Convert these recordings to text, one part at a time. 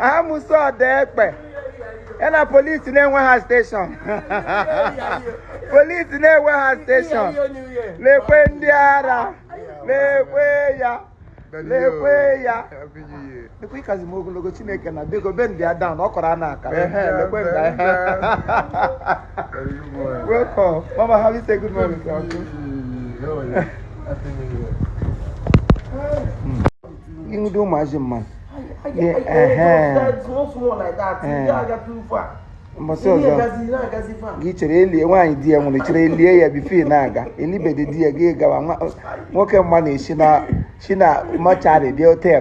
amusu Odekpe ya na polisi na-enwe ha steshọn polisi na-enwe ha steshọn lekwe ndị ara lekwe ya lekwe ya lekwe ị kazi m ogologo chineke na biko be ndị ada ọ kọrọ a na-aka ehe lekwe ndị ahịa welcome mama how you say good morning to you? ịhụdo ụmụazị mmadụ mbọsị ọzọ gị chere elie nwaanyị di ya nwụrụ chere elie ya before ị na-aga elibede di ya gị gawa nwoke mma na-esi na si na mọchari dị ote ya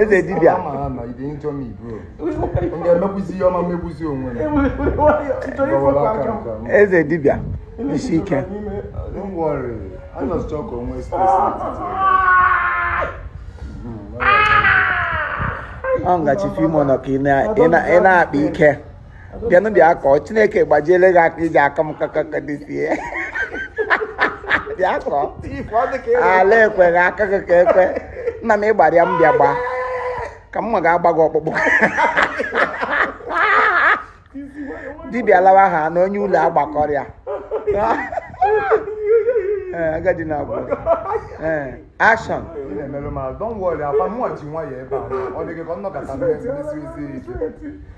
eze dibịa eze dibịa isi ike ọ nga Chief Imo nọ ka ị na-akpa ike bịanụ bịa kụọ chineke gbajiele gị aka i ji akụ m kakaka this year bịa kụọ ala ekweghị aka gị ka ekwe nna m ị gbara ya m bịa gbaa ka mma ga-agba gị ọkpụkpụ dibịa lawa ha na onye ụlọ agbakọrịa ee agadi na agwa ee action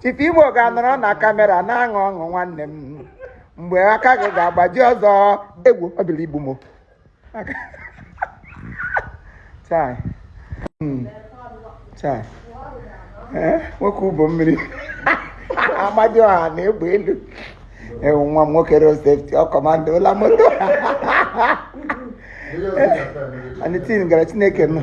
Chief Imo ga-anọrọ na kamera na-aṅụ ọṅụ nwanne m mgbe aka gị ga-agbaji ọzọ egwu ọ bịala igbu m chai hmm. chai eh, nwoke Ubomiri Amadiọha na egbe elu ewu nwa m nwoke road safety ọ kọmandala moto anything gara chineke nọ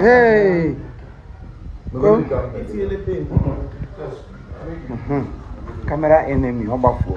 Hey. Go. Camera enemy, ọ gbafuo.